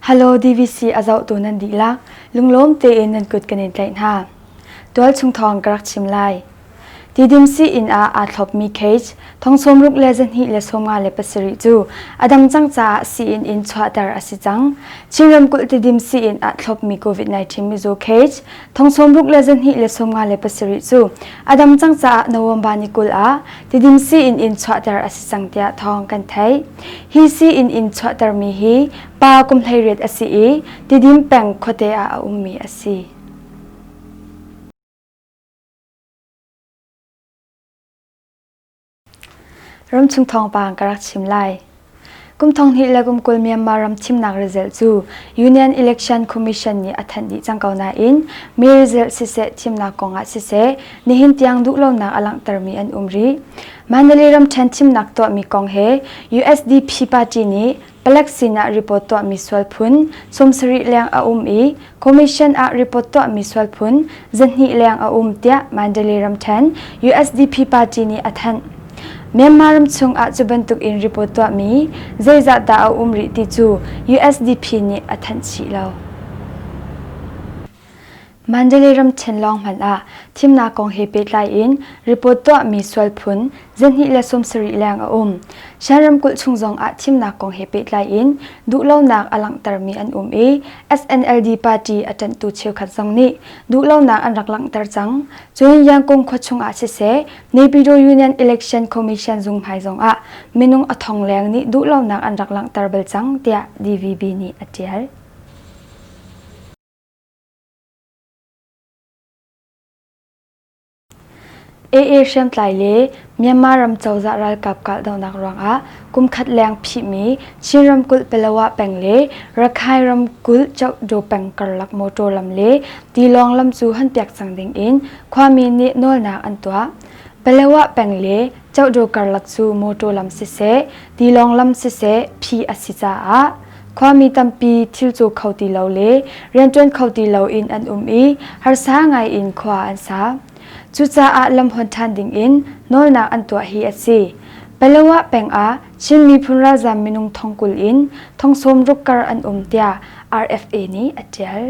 Halo DVC a zohtu nan dihlak lunglawm tein nan kut kan in tlaih hna. Tual chung thawng ka rak chim lai. Tidim si inn ah aa thlopmi cage thong sawm ruk le zahnih le sawmnga le pasarih cu a dang cang caah sii-inn in chuahter a si cang. Chin ramkulh tidim sii-inn ah thlopmi COVID-19 mizu cage Thong sawmruk le zahnih le sawmnga le pasarih cu a dam cang caah November ni kul ah tidim si in in chuahter a si cang tiah thawng kan theih. Hi si in in chuahtermi hi pa kum hleiriat a si i tidim peng khuate ah a ummi a si. Ramchung thawngpang ka rak chim lai. Kum thonghnih le kum kul Myanmar ram thimnak result cu Union Election Commission nih a thanh dih cang ko nain mi result siseh thimnak kong ah siseh nihin tiang duh lonak a langhtermi an um rih. Mandalay ram ṭhen thimnak tuahmi kong he USDP party nih Palek sinah report tuahmi sualphun sawm sarih leng a um i Commission ah report tuahmi sualphun zahnih leng a um tiah Mandalay ramṭhen usdp party nih a thanh. Myanmar ram chungah cu bantuk in report tuahmi zeizah dah a um rih ti cu usdp nih a thanh chih lo. Mandalay ramṭhen lawng hmanh ah thimnak kong he pehtlai in report tuahmi sual phun zenhnih le sawmsarih leng a um. Shan ramkulh chung zong ah thimnak kong he pehtlai in duhlonak a langhtermi an um i SNLD party a ṭanhtu cheukhat zong nih duhlonak an rak langhter cang. Cun Yangkung khua chung ah siseh Naypyidaw Union Election Commission zunghmai zong ah minung a thong leng nih duhlonak an rak langhter bal cang tiah DVB nih a ṭial. AA hriamtlai le Myanmar ram cozah ralkap kahdohnak ruangah kumkhat leng phihmi Chin ramkulh Pelawa peng le Rakhine ramkulh Chokdaw peng karlak motor lam le tilawng lam cu hunpiak cang dingin khuami nih nawlnak an tuah. Pelawa peng le Chokdaw karlak cu motor lam siseh, tilawng lam siseh, phih a si caah Khuami tampi thil cu kho ti lo le rianṭuan kho ti loin an um i harsa ngaiin khua an sa. Cucaah lamhuan ṭhan dingin nawlnak an tuah hi a si. Paloah peng ah Chin miphun ralzaam minung thong kul in thong sawm ruk kar an um tiah RFA nih a ṭial.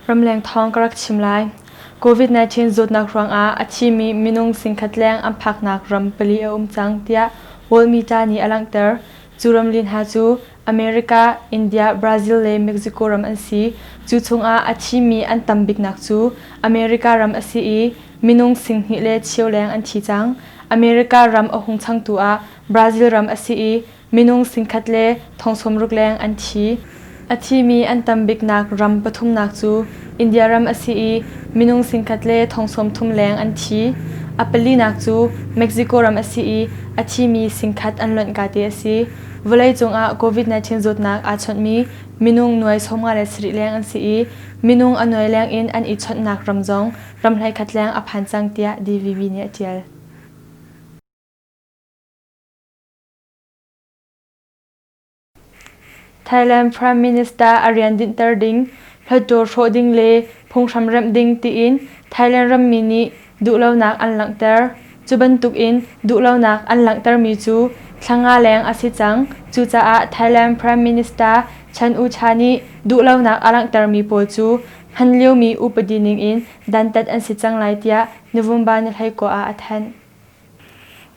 Ramleng thawng ka rak chim lai. COVID-19 zawtnak ruangah a thimi minung singkhat leng an phaknak ram pali a um cang tiah World Media nih a langhter. Cu ramlin hna cu America, India, Brazil le Mexico ram an si. Cu chungah a thimi an tam biknak cu America ram a si i minung singhnih le cheu leng an thi cang. America ram a hung changtu ah Brazil ram a si i Minung singkhat le thong sawmruk leng an thi. A thimi an tam biknak ram pathumnak cu India ram a si i minung singkhat le thong sawmthum leng an thi. A palinak cu Mexico ram a si i a thimi singkhat an lohnka te a si. Vawleicung ah COVID-19 zawtnak aa chawnhmi minung nuai sawmnga le sarih leng an si i minung a nuai leng in an i chawnhnak ram zong ram hleikhat leng a phan cang tiah DVB nih a ṭial. Thailand Prime Minister a rian dinhter ding, hluttaw hrawh ding le phunghram remh ding tiin Thailand rammi nih duhlonak an langhter. Cu bantukin duhlonak an langhtermi cu thla nga leng a si cang. Cucaah Thailand Prime Minister Chan O-cha nih duhlonak a langhtermi pawl cu hman liomi upadi ningin dantat an si cang lai tiah November ni hlei kua ah a thanh.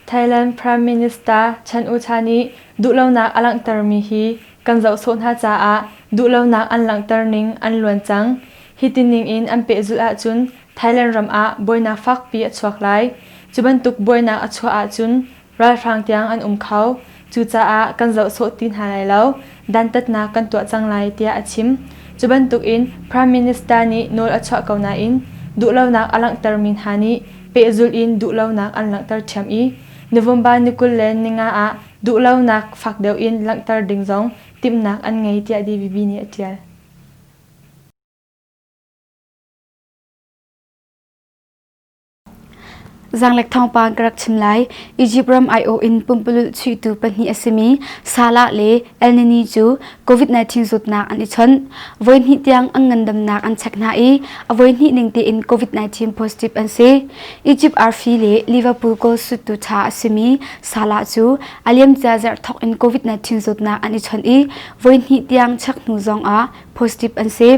Thailand Prime Minister Chan O-cha nih duhlonak a langhtermi hi kan zoh sawh hna caah duhlonak an langhter ning an luan cang. Hiti ningin an pehzulh ahcun Thailand ram ah buainak fakpi a chuak lai. Cu bantuk buainak a chuah ahcun ralhrang tiang an um kho. Cucaah kan zoh sawh ti hna lai lo, dantatnak kan tuah cang lai tiah a chim. Cu bantukin Prime Minister nih nawl a chuah ko nain duhlonak a langhtermi hna nih pehzulh in duhlonak an langhter ṭhiam i November ni kul le ninga ah duhlonak fak deuh in langhter ding zong timhnak an ngei tiah DVB nih a ṭial. Zaanglek thawngpang ka rak chim lai. Egypt ram aiawh in pumpalulh chuihtu pahnih a simi Salah le El Nini cu COVID-19 zawtnak an i chawnh. Voi hnih tiang an ngandamnak an chek hna i a voi hnih ning tein COVID-19 positive an si. Egypt arfi le Liverpool goal suttu ṭha a simi Salah cu a liamcia zarh thawk in COVID-19 zawtnak an i chawnh i voi hnih tiang chek hnu zong ah positive an si.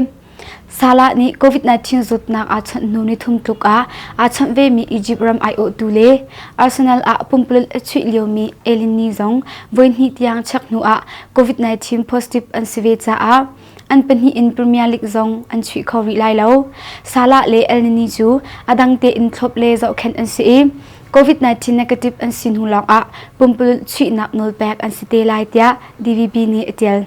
Salah nih COVID-19 zawtnak aa chawnh hnu nithum tluk ah aa chawnh vemi Egypt ram aiawhtu le Arsenal ah pumpululh a chuih liomi Elini zong voihnih tiang check hnu ah COVID-19 positive an si ve caah an pahnih in Premier League zong an chuih kho rih lai lo. Salah le Elnini cu a dang tein thlop le zohkhenh an si i COVID-19 negative an si hnu lawng ah pumpululh chuihnak nawlpek an si te lai tiah DVB nih a tial.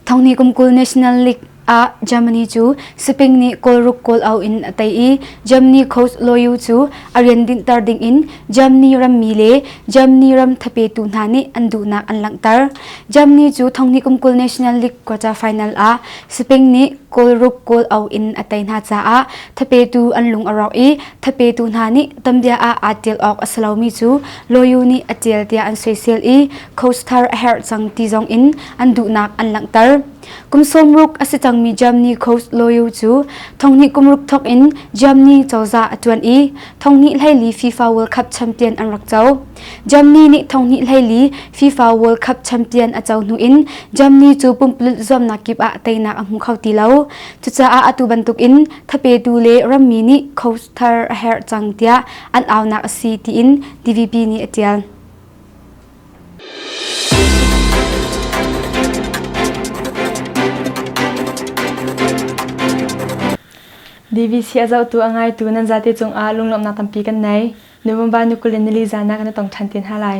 Thongni kumkul National League ah Germany cu Spain nih goal goal out in a tei i Germany coach Loyu cu a rian dinhter ding in Germany rammi le Germany ram thapetu hna nih an duhnak an langhter. Germany cu thongni kumkul National League quarter final ah Spain nih goal goal out in a tei hna caah thapetu an lung a rawk i thapetu hna nih tambia ah aa tel awk a si lomi cu Loyu nih a ṭial tiah an soisel i Coast thar a herh cang ti zong in an duhnak an langhter. Kum sawmruk a si cangmi Germany Coast Loyu cu thonghnih kumruk thawk in Germany cozah a ṭuan i thonghnih hleili FIFA World Cup champion an rak co. Germany nih thonghnih hleili FIFA World Cup champion a co hnu in Germany cu pumpulut zuamnak kip ah teinak a hmu kho ti lo. Cucaah atu bantuk in thapetu le rammi nih Coast thar a herh cang tiah an aunak a si tiin DVB nih a ṭial. DVC a zohtu a ngaitu nan zate cungah lunglawmhnak tampi kan nei. November ni kul in nili zan ah kan i tong ṭhan te hna lai.